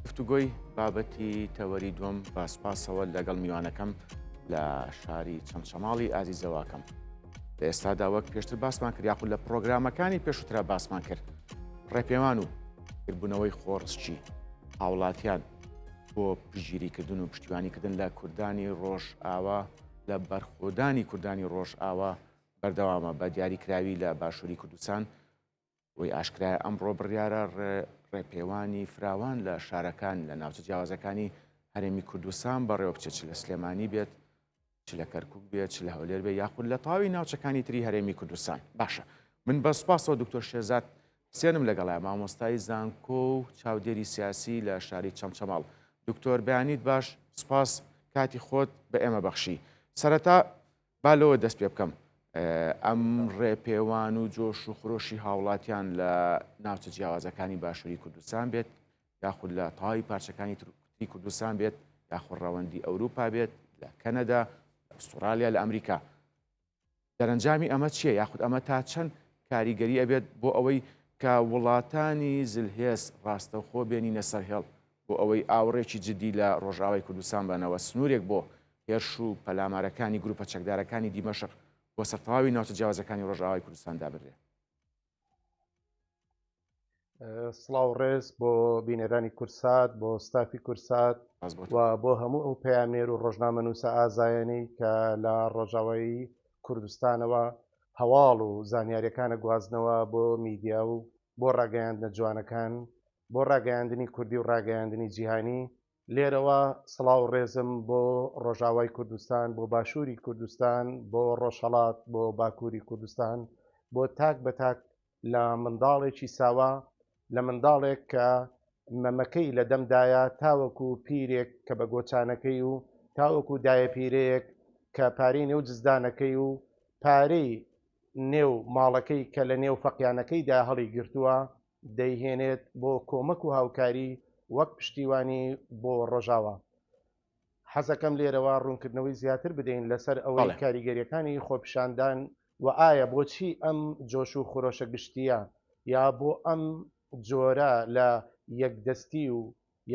گفتوگۆی بابەتی تەوەری دووەم بە سپاسەوە لەگەڵ میوانەکەم لە شاری چەمچەماڵی ئازیزەواکەم لە ئێستادا وەک پێشتر باسمان کرد یاخود لە پرۆگرامەکانی پێشوترا باسمان کرد ڕێپێوان و کربوونەوەی خۆڕسچی هاوڵاتیان بۆ پژگیریکردن و پشتیوانیکردن لە کوردانی ڕۆژ ئاوا لە بەرخۆدانی کوردانی ڕۆژ ئاوا بەردەوامە بە دیاریکراوی لە باشووری کوردستان وەی ئاشکرایە ئەمڕۆ بڕیارە ڕێپێوانی فراوان لە شارەکان لە ناوچە جیاوازەکانی هەرێمی کوردستان بەڕێوە بچێت چ لە سلێمانی بێت چ لە کەرکک بێت چ لە هەولێر بێ یاخود لە تاوی ناوچەکانی تری هەرێمی کوردستان باشە من بە سوپاسەوە دکتۆر شێزات سێنم لەگەڵای مامۆستای زانکۆ و چاودێری سیاسی لە شاری چەمچەماڵ دکتۆر بەیانیت باش سپاس کاتی خۆت بە ئێمە بەخشی سەرەتا با لەوە دەست پێ بکەم ئەم ڕێپێوان و جۆش و خرۆشی هاوڵاتیان لە ناوچە جیاوازەکانی باشووری کوردستان بێت یاخود لە تەواوی پارچەکانی ترکتی کوردستان بێت یاخود ڕەوەندی ئەوروپا بێت لە کەنەدا ئوسترالیا لە ئەمریکا دەرەنجامی ئەمە چییە یاخود ئەمە تا چەند کاریگەری ئەبێت بۆ ئەوەی کە وڵاتانی زلهێز ڕاستەوخۆ بێنینە سەر هێڵ بۆ ئەوەی ئاوڕێکی جدی لە ڕۆژئاوای کوردستان بەنەوە، سنوورێک بۆ هێرش و پەلامارەکانی گرووپە چەکدارەکانی دیمەشق بۆ سەر تەواوی ناوچە جیاوازەکانی ڕۆژئاوای کوردستان دابنرێ. سڵاو ڕێز بۆ بینەرانی کورسات بۆ ستافی کورسات و بۆ هەموو ئەو پەیامێر و ڕۆژنامە نووسە ئازایانی کە لە ڕۆژاوایی کوردستانەوە هەواڵ و زانیاریەکانە گوازنەوە بۆ میدیا و بۆ ڕاگەیاندنە جوانەکان بۆ ڕاگەیاندنی کوردی و ڕاگەیاندنی جیهانی لێرەوە سڵاو ڕێزم بۆ ڕۆژاوای کوردستان بۆ باشووری کوردستان بۆ ڕۆژهڵات بۆ باکووری کوردستان بۆ تاک بە تاک لە منداڵێکی ساوا لە منداڵێک کە مەمەکەی لە دەمدایە تاوەکو پیرێک کە بە گۆچانەکەی و تاوەکو دایە پیرەیەک کە پارەی نێو جزدانەکەی و پارەی نێو ماڵەکەی کە لە نێو فەقیانەکەیدا هەڵی گرتووە دەیهێنێت بۆ کۆمەک و هاوکاری وەک پشتیوانی بۆ ڕۆژاوا. حەزەکەم لێرەوە ڕوونکردنەوەی زیاتر بدەین لەسەر ئەوەی کاریگەریەکانی خۆپیشاندان و ئایا بۆچی ئەم جۆش و خرۆشە گشتیە یا بۆ ئەم جۆرە لە یەکدەستی و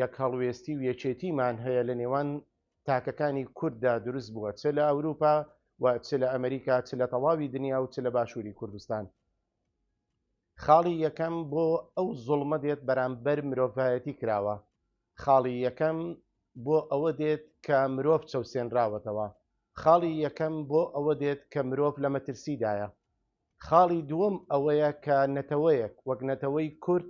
یەکهەڵوێستی و یەکێتیمان هەیە لە نێوان تاکەکانی کورددا دروست بووە چ لە ئەوروپا و چ لە ئەمریکا چ لە تەواوی دنیا و چ لە باشوری کوردستان. خاڵی یەکەم بۆ ئەو زوڵمە دێت بەرامبەر مرۆڤایەتی کراوە خاڵی یەکەم بۆ ئەوە دێت کە مرۆڤ چەوسێنراوەتەوە خاڵی یەکەم بۆ ئەوە دێت کە مرۆڤ لە مەترسیدایە خاڵی دووەم ئەوەیە کە نەتەوەیەک وەک نەتەوەی کورد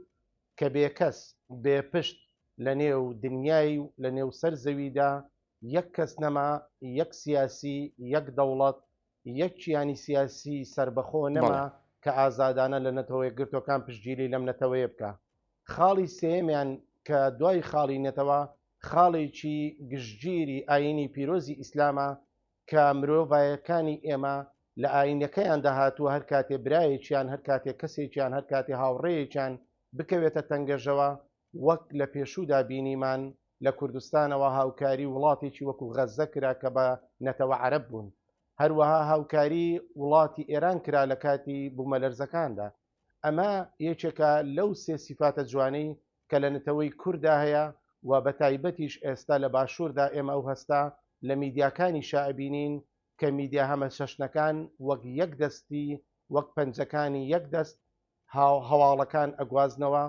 کە بێکەس بێ پشت لە نێو دنیای و لە نێو سەر زەویدا یەک کەس نەما یەک سیاسی یەک دەوڵەت یەک کیانی سیاسی سەربەخۆ نەما کە ئازادانە لە نەتەوە یەکگرتووەکان پشتگیری لەم نەتەوەیە بکە. خاڵی سێیەمیان کە دوای خاڵی نەتەوە خاڵێکی گشتگیری ئایینی پیرۆزی ئیسلامە کە مرۆڤایەکانی ئێمە لە ئایینەکەیاندا هاتووە هەر کاتێ برایەکیان هەر کاتێ کەسێکیان هەر کاتێ هاوڕێیەکیان بکەوێتە تەنگەژەوە وەک لە پێشوودا بینیمان لە کوردستانەوە هاوکاری وڵاتێکی وەکو غەززە کرا کە بە نەتەوە عەرەب بوون. هەروەها هاوکاری وڵاتی ئێران کرا لە کاتی بوومەلەرزەکاندا. ئەمە یەکێکە لەو سێ سیفاتە جوانەی کە لە نەتەوەی کورددا هەیە و بە تایبەتیش ئێستا لە باشووردا ئێمە ئەو هەستە لە میدیاکانیشا ئەبینین کە میدیا هەمەچەشنەکان وەک یەک دەستی وەک پەنجەکانی یەک دەست هاو هەواڵەکان ئەگوازنەوە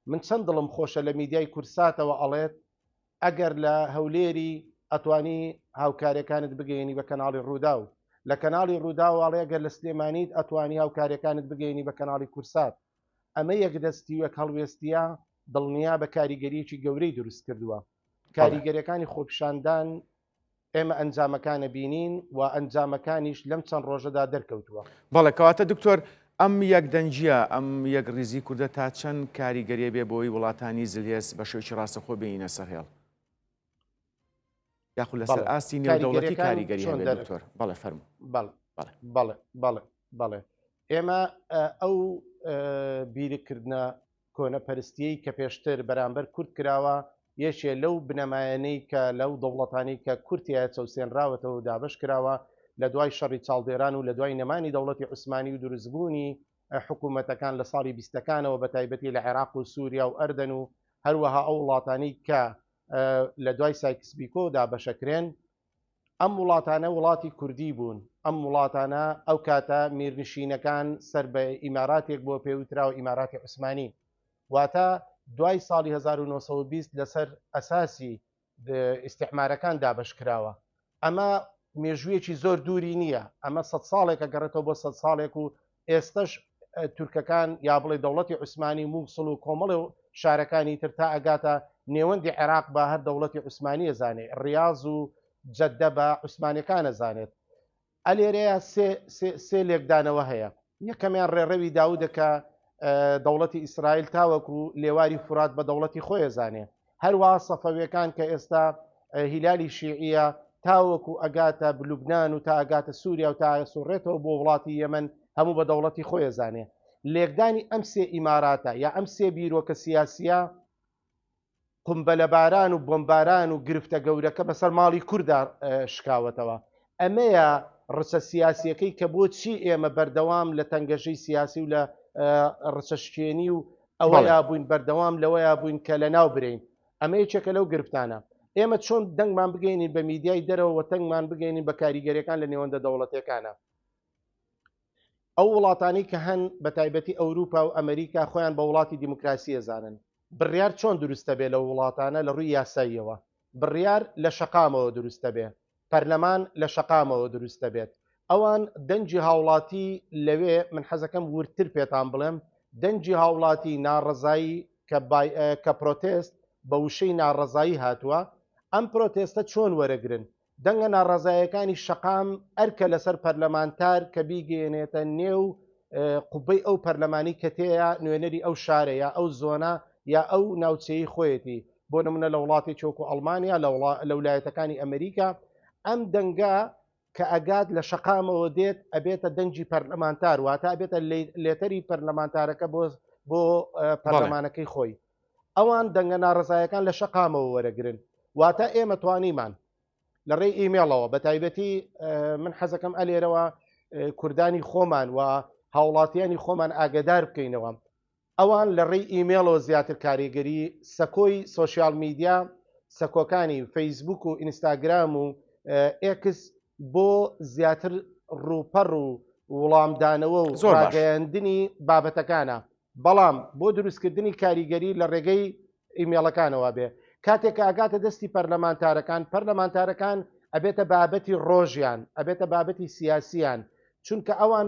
من چەند دڵم خۆشە لە میدیای کورساتەوە ئەڵێت ئەگەر لە هەولێری ئەتوانی هاوکارەکانت بگەێنی بە کەناڵی ڕووداو لە کەناڵی ڕووداواڵێ گەر لە سلێمانیت ئەتوانی هاوکارەکانت بگەێنی بە کەناڵی کورسات ئەمە یەک دەستی وەک هەڵوێستە دڵنیا بە کاریگەریەکی گەورەی دروست کردووە کاریگەرەکانی خۆپشاندان ئێمە ئەنجامەکانە بینین و ئەنجامەکانیش لەم چەند ڕۆژەدا دەرکەوتووە بەڵێ کەواتە دکتۆر ئەم یەک دەنجە ئەم یەک ریزی کوردە تا چەند کاری گەرێ بێ بۆی وڵاتانی زلهێز بە شێکی ڕاستەخۆ بینە سەر هێڵ یاخود لەسەر ئاستی نێودەوڵەتی کاریگەری دکتۆر بەڵێ فەرم بەڵێ بەڵێ ئێمە ئەو بیرکردە کۆنەپەرستیەی کە پێشتر بەرامبەر کورد کراوە، یەکێ لەو بنەمایەنەی کە لەو دەوڵەتانەی کە کورد تیایە چەوسێنراوەتەوەو دابەش کراوە لە دوای شەڕی چاڵدێران و لە دوای نەمانی دەوڵەتی عوسمانی و دروستبوونی حکوومەتەکان لە ساڵی بیستەکانەوە بە تایبەتی لە عێراق و سووریا و ئەردەن و هەروەها ئەو وڵاتانەی کە لە دوای سایکس بیکۆ دابەشەکرێن ئەم وڵاتانە وڵاتی کوردی بوون، ئەم وڵاتانە ئەو کاتە میرنشینەکان سەر بە ئیماراتێک بۆ پێ وتراوە ئیماراتی عوسمانی واتە دوای ساڵی 1920 لەسەر ئەساسی ئیسیحمارەکان دابش کراوە ئەمە مێژوویەکی زۆر دووری نییە ئەمە سە ساڵێکە گەڕێتەوە بۆ سە ساڵێک و ئێستەش تورکەکان یا بڵێ دەوڵەتی عوسمانی مووسڵ و کۆمەڵێ و شارەکانی تر تا ئەگاتە نێوەندی عێراق بە هەر دەوڵەتی عوسمانی ئەزانێ ڕاز و جەددە بە عوسمانەکان ئەزانێت ئەلێرەیە سێ لێکدانەوە هەیە یەکەمیان ڕێڕەوی داودەکە دەوڵەتی ئیسرائیل تاوەکو لێواری فرات بە دەوڵەتی خۆیەزانێ هەروا سەفەویەکان کە ئێستا هیلالی شیعە تاوەکو ئەگاتە بلوبناان و تا ئەگاتە سووریا و تا سوڕێتەوە بۆ وڵاتی یەمن هەموو بە دەوڵەتی خۆی زانێ لێکدانی ئەم سێ ئیماراتە یا ئەم سێ بیرۆکە سیاسە قمبەلەباران و بۆمباران و گرفتە گەورەکە بەسەر ماڵی کووردا شکاوەتەوە ئەمەیە ڕچە سیاسیەکەی کە بۆ چی ئێمە بەردەوام لە تەنگەژەی سیاسی و لە ڕچە شکێنی و ئەوەیا بووین بەردەوام لەوەیا بووین کە لە ناو برین ئەمە یەکێکە لەو گرفتانە ئێمە چۆن دەنگمان بگەینین بە میدیای دەرەوە تەنگمان بگەینین بە کاریگەریەکان لە نێوەندە دەوڵەتەکانە ئەو وڵاتانی کە هەن بە تایبەتی ئەوروپا و ئەمریکا خۆیان بە وڵاتی دیموکراسی ئەزانن بڕیار چۆن دروستە بێ لە وڵاتانە لە ڕووی یاساییەوە بڕیار لە شەقامەوە دروستە بێ پەرلەمان لە شەقامەوە دروستە بێت ئەوان دەنجی هاوڵاتی لەوێ من حەزەکەم وردتر پێتان بڵێم دەنجی هاوڵاتی ناڕزایی کە پرۆتست بە وشەی ناڕزایی هاتووە ئەم پرۆتێستە چۆن وەرەگرن دەنگە ناڕەزایەکانی شەقام ئەرکە لەسەر پەرلەمانتار کە بیگەێنێتە نێو قوبەی ئەو پەرلەمانی کە تێەیە نوێنەری ئەو شارە یا ئەو زۆنە یا ئەو ناوچەی خۆیەتی بۆ نمونە لە وڵاتی چۆک و ئەڵمانیا لە ولایەتەکانی ئەمریکا ئەم دەنگە کە ئەگات لە شەقامەوە دێت ئەبێتە دەنگی پەرلەمانتار واتە ئەبێتە لێتەری پەرلەمانتارەکە بۆ بۆ پەرلەمانەکەی خۆی ئەوان دەنگە ناڕەزایەکان لە شەقامەوە وەرەگرن واتە ئێمە توانیمان لە ڕێی ئیمێڵەوە بە تایبەتی من حەزەکەم ئەلێرەوە کوردانی خۆمان و هاوڵاتیانی خۆمان ئاگدار بکەینەوە ئەوان لە ڕێی ئیمێڵەوە زیاتر کاریگەری سەکۆی سوۆسیال میدیا سەکۆکانی فەیسبوک و ئینستاگرام و ئێکس بۆ زیاتر ڕوپەڕ و وڵامدانەوە و زۆرگەیاندنی بابەتەکانە بەڵام بۆ دروستکردنی کاریگەری لە ڕێگەی ئیمێڵەکانەوە بێ کاتێک ئاگاتە دەستی پەرلەمانتارەکان پەرلەمانتارەکان ئەبێتە بابەتی ڕۆژیان ئەبێتە بابەتی سیاسیان چونکە ئەوان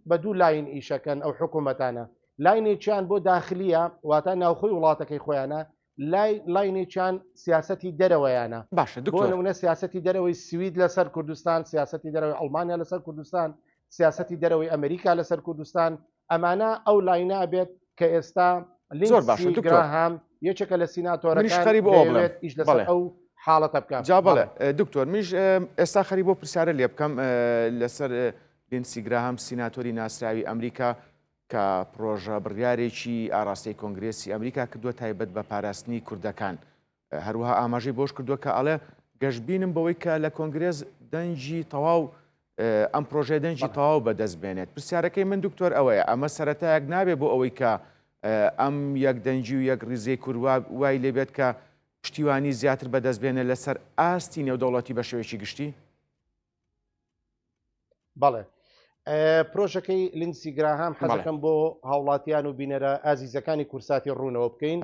بە دوو لاین ئیشەکەن ئەو حکوومەتانە لاینێکیان بۆ داخلیە واتە ناوخۆی وڵاتەکەی خۆیانە لای لاینێکیان سیاسەتی دەرەوەیانە باشە دکتۆر نمونە سیاسەتی دەرەوەی سوید لەسەر کوردستان سیاسەتی دەرەوەی ئەڵمانیا لەسەر کوردستان سیاسەتی دەرەوەی ئەمریکا لەسەر کوردستان ئەمانە ئەو لاینە ئەبێت کە ئێستا زۆر باشە دکتۆر هام یەکێکە لە سیناتۆرەکان خەری بۆ بڵێت ئیش لەسەر ئەو حاڵەتە بکە جا بڵێ دکتۆر میش ئێستا خەری بۆ پرسیارە لێ بکەم لەسەر لینسیگرا هەم سیناتۆری ناسراوی ئەمریکا کە پرۆژە بڕیارێکی ئاراستەی کۆنگرێسی ئەمریکا کردووە تایبەت بە پاراستنی کوردەکان. هەروەها ئاماژەی بەوەش کردووە کە ئەڵێ گەشبینم بەوەی کە لە کۆنگرێس دەنگی تەواو ئەم پرۆژەیە دەنگی تەواو بەدەست بێنێت. پرسیارەکەی من دکتۆر ئەوەیە ئەمە سەرەتایەک نابێ بۆ ئەوەی کە ئەم یەک دەنگی و یەک ریزەی کورد وای لێبێت کە پشتیوانی زیاتر بەدەست بێنێت لەسەر ئاستی نێودەوڵەتی بە شێوەیەکی گشتی؟ بەڵێ پرۆژەکەی لینسی گراهام حەزەکەم بۆ هاوڵاتیان و بینەرە ئازیزەکانی کورساتی ڕوونەوە بکەین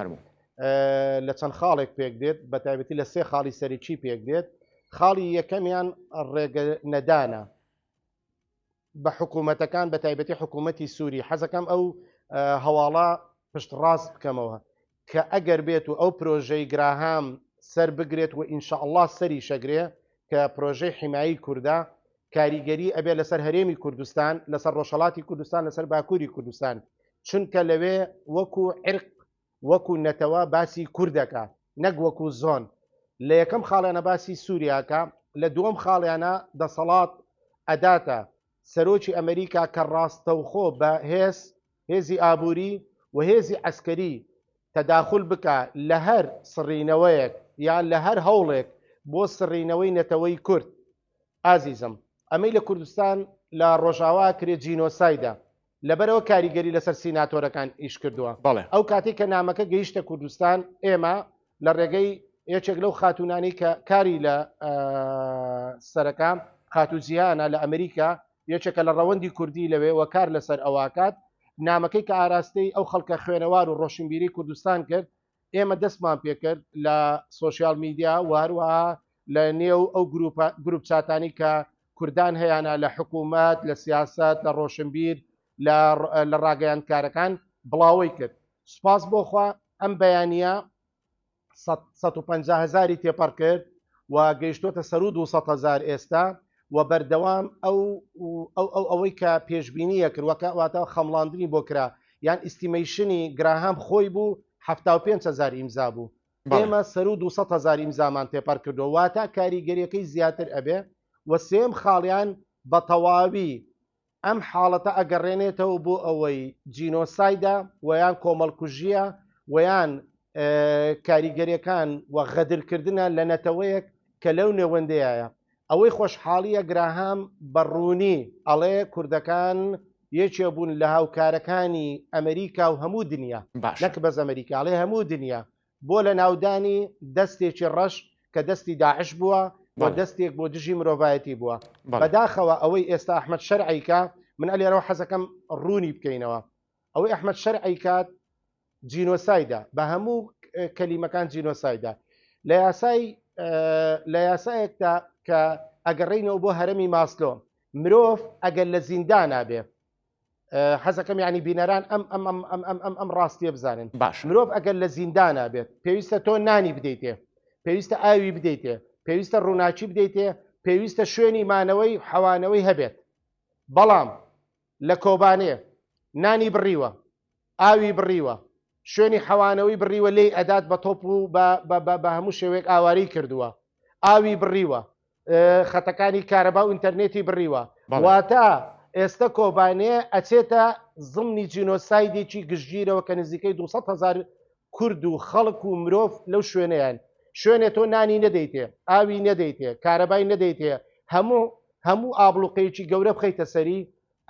لە چەند خاڵێک پێک دێت بە تایبەتی لە سێ خاڵی سەرکی پێک دێت خاڵی یەکەمیان ڕێگە نەدانە بە حکوومەتەکان بە تایبەتی حکوومەتی سووری حەزەکەم ئەو هەواڵە پشت ڕاست بکەمەوە کە ئەگەر بێت و ئەو پرۆژەی گراهام سەر بگرێت و ئینشاء الله سەری شەگرێ کە پرۆژەی حیمایی کووردا کاریگەری ئەبێ لەسەر هەرێمی کوردستان لەسەر ڕۆژهڵاتی کوردستان لەسەر باکووری کوردستان چونکە لەوێ وەکو عرق وەکو نەتەوە باسی کوردەکا نەک وەکو زۆن لە یەکەم خاڵیانە باسی سوریاکە لە دووەم خاڵیانە دەسەڵات ئەداتە سەرۆکی ئەمریکا کە ڕاستەوخۆ بە هێز هێزی ئابووری و هێزی عسکەری تەداخل بکە لە هەر سڕینەوەیەک یان لە هەر هەوڵێک بۆ سڕینەوەی نەتەوەی کورد. ئازیزم ئەمەی لە کوردستان لە ڕۆژاوا کرێ جینۆسایدا لەبەرەوە کاریگەری لەسەر سیناتۆرەکان ئیش کردووە بەڵێ ئەو کاتی کە نامەکە گەیشتە کوردستان ئێمە لە ڕێگەی یەکێک لەو خاتونانی کە کاری لە سەرەکە خاتو جیهانە لە ئەمریکا یەکێکە لە ڕەوەندی کوردی لەوێ وە کار لەسەر ئەوواکات نامەکەی کە ئاراستەی ئەو خەڵکە خوێنەوار و ڕۆشنبیری کوردستان کرد ئێمە دەستمان پێکرد لە سوۆسیال میدیا و هەروەها لە نێو ئەو گروپ چاتانی کە کوردان هەیەە لە حکوومەت لە سیاست لە ڕۆشنبیر لە ڕاگەیاندکارەکان بڵاوەی کرد سوپاس بۆخوا ئەم بەیانە 150 هزاری تێپەڕ کرد و گەیشتوتە سەر و 200 هزار ئێستا و بەردەوام ئەو ئەو ئەو ئەوەی کە پێشببینیە کرد وەکە واتەوە خەمڵاندنی بۆ کرا یان ئیسیمەیشنی گراهام خۆی بوو ه هزار ئیمزا بوو ئێمە سەرو 200 هزار ئیمزامان تێپەر کردو واتە کاریگەریەکەی زیاتر ئەبێ و سێم خاڵیان بە تەواوی ئەم حاڵەتە ئەگەڕێنێتەوە بۆ ئەوەی جینۆسایدە و یان کۆمەڵکوژیە و یان کاریگەریەکان و غەدرکردە لە نەتەوەیەک کە لەو نێوەندەیە ئەوەی خۆشحاڵیە گراهام بە ڕوونی ئەڵێ کوردەکان یەکێ بوون لە هاوکارەکانی ئەمریکا و هەموو دنیا نەک بەس ئەمریکاڵێ هەموو دنیا بۆ لەناودانی دەستێکی ڕەش کە دەستی داعش بووە و دەستێک بۆ دژی مرۆڤایەتی بووە بەداخەوە ئەوەی ئێستا ئەحمد شەرعیکە من ئەلێرەوە حەزەکەم ڕوونی بکەینەوە ئەوەی ئەحمد شەرعی کات جینۆسایدا بە هەموو کەلیمەکان جینۆسایدا لە یاسای لە یاسایەکدا کە ئەگەڕینەوە بۆ هەرمی ماسلۆ مرۆڤ ئەگەر لە زیندانابێ حەزەکەم ینی بینەران ئەم ئەم ئەم ئەم ئەم ئەم ئەم ڕاستیە بزانن باش مرۆڤ ئەگەر لە زیندانا بێت پێویستە تۆ نانی بدەیتێ پێویستە ئاوی بدەیتێ پێویستە ڕووناچی بدەیتێ پێویستە شوێنی مانەوەی حەوانەوەی هەبێت بەڵام لە کۆبانێ نانی بڕیوە ئاوی بڕیوە شوێنی حەوانەوەی بڕیوە لێی ئەدات بە تۆپ و بە هەموو شێوێک ئاواری کردووە ئاوی بڕیوە خەتەکانی کارەبا و ئینتەرنێتی بڕیوە واتە ئێستا کۆبانێ ئەچێتە زمنی جینۆسایدێکی گشتگیرەوە کە نزیکەی 200 هزار کورد و خەڵک و مرۆڤ لەو شوێنیان شوێنێ تۆ نانی نەدەیتێ ئاوی نەدەیتێ کارەبای نەدەیتێ هەموو هەموو ئابلوقەیەکی گەورە بخیتە سەری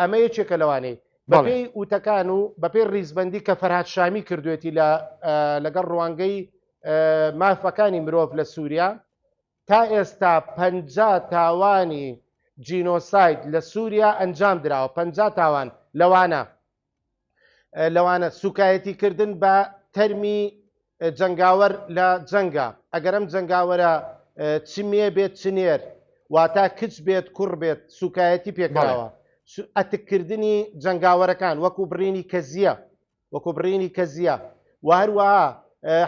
ئەمە یەکێکە لەوانەی بەڵێ. بەپێی وتەکان و بەپێی ڕیزبەندی کە فەرهاد شامی کردوێتی لە ئە، لەگەڵ ڕوانگەی ئە، مافەکانی مرۆڤ لە سووریا، تا ئێستا پەنجا تاوانی جینۆساید لە سووریا ئەنجام دراوە، پەنجا تاوان، لەوانە. لەوانە سوکایەتی کردن بە تەرمی جەنگاوەر لە جەنگا ئەگەر ئەم جەنگاوەرە چ مێ بێت چ نێر واتا کچ بێت کوڕ بێت سوکایەتی پێکراوە ئەتککردنی جەنگاوەرەکان وەکو بڕینی کەزیە وەکو بڕینی کەزیە و هەروەها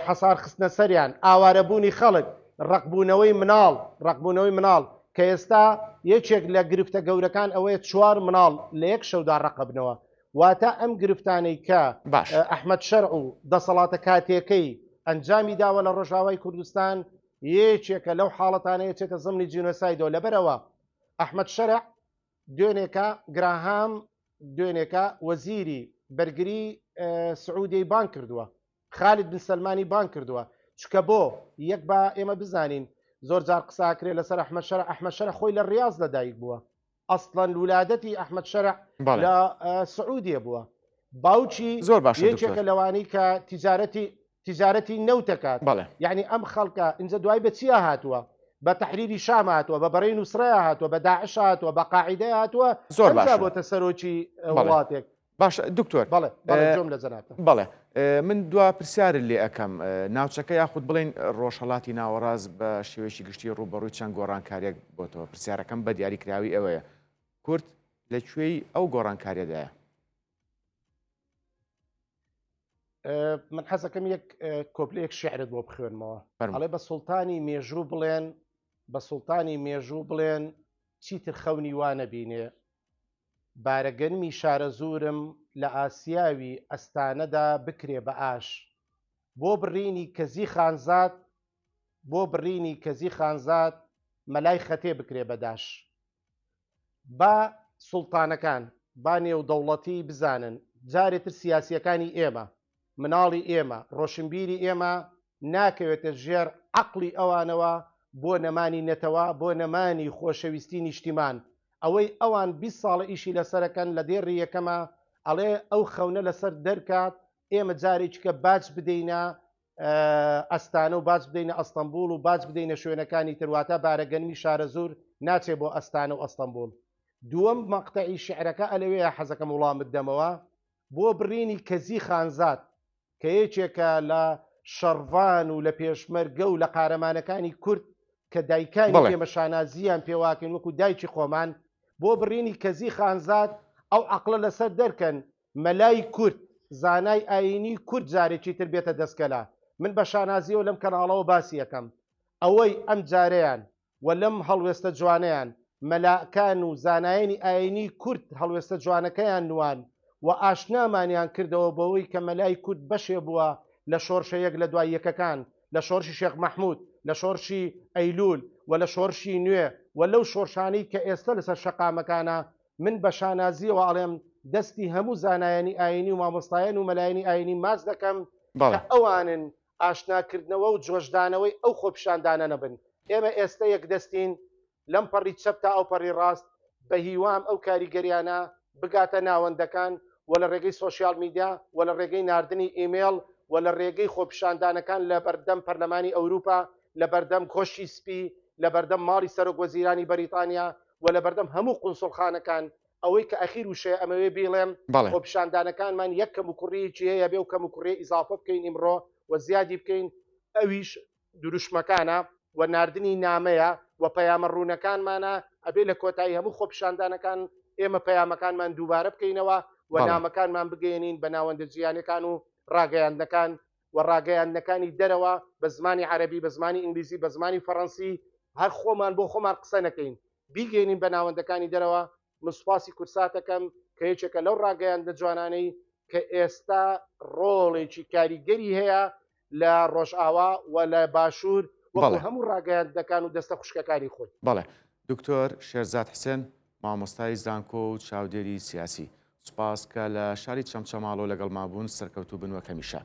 حەسار خستنە سەریان ئاوارەبوونی خەڵک ڕقبوونەوەی مناڵ ڕقبوونەوەی مناڵ کە ئێستا یەکێک لە گرفتە گەورەکان ئەوەیە چوار مناڵ لە یەک شەودا ڕقبنەوە واتە ئەم گرفتانەی کە ئەحمەد شەرع و دەسەڵاتە کاتیەکەی ئەنجامی داوە لە ڕۆژاوای کوردستان یەکێکە لەو حاڵەتانەیە چێتە زمنی جینۆسایدۆ لەبەرەوە ئەحمد شەرع دوێنێکە گراهام دوێنێکە وەزیری بەرگری سعودی بان کردووە خالد بن سلمانی بان کردووە چکە بۆ یەک بە ئێمە بزانین زۆر جار قساکرێ لەسەر ئەحمە شەر ئەحمە شەر خۆی لە ڕاز لەدایک بووە ئەسڵەن ولادەتی ئەحمد شەرع لە سعودیە بووە باوکی زۆر باش یەکێکە لەوانی کە تیجارەتی تیجارەتی نەوتەکات بەڵێ یعنی ئەم خەڵکە ئینجا دوای بە چیا هاتووە بە تحریری شام هاتووە بە بەڕێ نووسڕە هاتووە بە داعش هاتووە بە قاعدە هاتووە زۆر باش بۆتە سەرۆکی وڵاتێک باش دکتۆر بەڵێ جۆم لە جەنات بەڵێ من دوا پرسیار لێ ئەەکەم ناوچەکە یاخود بڵین ڕۆژهڵاتی ناوەڕاز بە شێوەیەکی گشتی ڕوبەڕووی چەند گۆڕانکاریەک بۆتەوە پرسیارەکەم بە دیاری کراوی ئەوەیە کورت لە کوێی ئەو گۆڕانکاریەدایە من حەزەکەم یەک کۆپلێک شعرت بۆ بخوێنمەوە ئەڵێ بە سوڵتانی مێژوو بڵێن بە سوڵتانی مێژوو بڵێن چیتر خەونی وانە بینێ بارە گەنمی شارەزوورم لە ئاسیاوی ئەستانەدا بکرێ بە ئاش بۆ بڕینی کەزی خانزاد بۆ بڕینی کەزی خانزاد مەلای خەتێ بکرێ بە داش با سوڵتانەکان با نێودەوڵەتی بزانن جارێتر سیاسیەکانی ئێمە مناڵی ئێمە ڕۆشنبیری ئێمە ناکەوێتە ژێر عەقڵی ئەوانەوە بۆ نەمانی نەتەوە بۆ نەمانی خۆشەویستی نیشتیمان ئەوەی ئەوان بیست ساڵە ئیشی لەسەرەکەن لە دێڕی یەکەما ئەڵێ ئەو خەونە لەسەر دەرکات ئێمە جارێکیکە باج بدەینە ئەستانە و باج بدەینە ئەستەمبول و باج بدەینە شوێنەکانی تر واتە بارەگەنمی شارەزور ناچێ بۆ ئەستانە و ئەستەمبول دووەم مەقتەعی شعرەکە ئەلەوەیە حەزەکەم وڵامت دەمەوە بۆ بڕینی کەزی خانزاد کە یەکێکە لە شەڕڤان و لە پێشمەرگە و لە قارەمانەکانی کورد کە دایکانی ئێمە شانازییان پێواکەین وەکو دایکی خۆمان بۆ بڕینی کەزی خانزاد ئەو عقلە لەسەر دەرکەن مەلای کورد زانای ئاینی کورد جارێکی تر بێتە دەستکەلا من بە شانازیەوە لەم کەناڵەوە باسی یەکەم ئەوەی ئەم جارەیان و لەم هەڵوێستە جوانەیان مەلا کان و زانایانی ئاینی کورد هەڵوێستە جوانەکەیان نواند و ئاشنامانیان کردەوە بەوەی کە مەلای کورد بەشێ بووە لە شۆرشە یەک لە دوای یەکەکان لە شۆرشی شێخ مەحمود لە شۆرشی ئەیلول و لە شۆرشی نوێ و لەو شۆرشانەی کە ئێستە لەسەر شەقامەکانە من بە شانازیەوە ئەڵێم دەستی هەموو زانایانی ئاینی و مامۆستایان و مەلایانی ئاینی ماچ دەکەم کە ئەوانن ئاشناکردنەوە و جۆشدانەوەی ئەو خۆپیشاندانە نەبن. ئێمە ئێستە یەکدەستین لەم پەڕی چەپ تا ئەو پەڕی ڕاست، بە هیوام ئەو کاریگەریانە بگاتە ناوەندەکان و لە ڕێگەی سۆشیال میدیا و لە ڕێگەی ناردنی ئیمێڵ و لە ڕێگەی خۆپیشاندانەکان لە بەردەم پەرلەمانی ئەوروپا، لە بەردەم کۆشکی سپی، لە بەردەم ماڵی سەرۆکوەزیرانی بەریتانیا و لە بەردەم هەموو قونسوڵخانەکان ئەوەی کە ئەخیر وشەیە ئەمەوێ بیڵێم بەڵێ خۆ پیشاندانەکانمان یەک کەم و کوڕیەکی هەیە بێ و کەم و کوڕێ ئیزافە بکەین ئیمڕۆ و زیادی بکەین ئەویش دروشمەکانە و ناردنی نامەیە و پەیامە ڕوونەکانمانە ئەبێ لە کۆتایی هەموو خۆپیشاندانەکان ئێمە پەیامەکانمان دووبارە بکەینەوە و بەڵێ نامەکانمان بگەیەنین بە ناوەندە جیهانیەکان و ڕاگەیاندنەکان و ڕاگەیاندنەکانی دەرەوە بە زمانی عەرەبی بە زمانی ئینگلیزی بە زمانی فەڕەنسی هەر خۆمان بۆ خۆمان قسە نەکەین بیگەینین بە ناوەندەکانی دەرەوە من سوپاسی کورساتەکەم کە یەکێکە لەو ڕاگەیاندە جوانانەی کە ئێستا ڕۆڵێکی کاریگەری هەیە لە ڕۆژئاوا و لە باشوور وەڵ هەموو ڕاگەیاندەکان و دەستە خوشکەکانی خۆی بەڵێ دکتۆر شێرزاد حسێن مامۆستای زانکۆ و چاودێری سیاسی سوپاس کە لە شاری چەمچەماڵۆ لەگەڵ مابوون سەرکەوتوو بنوە کەمیشە.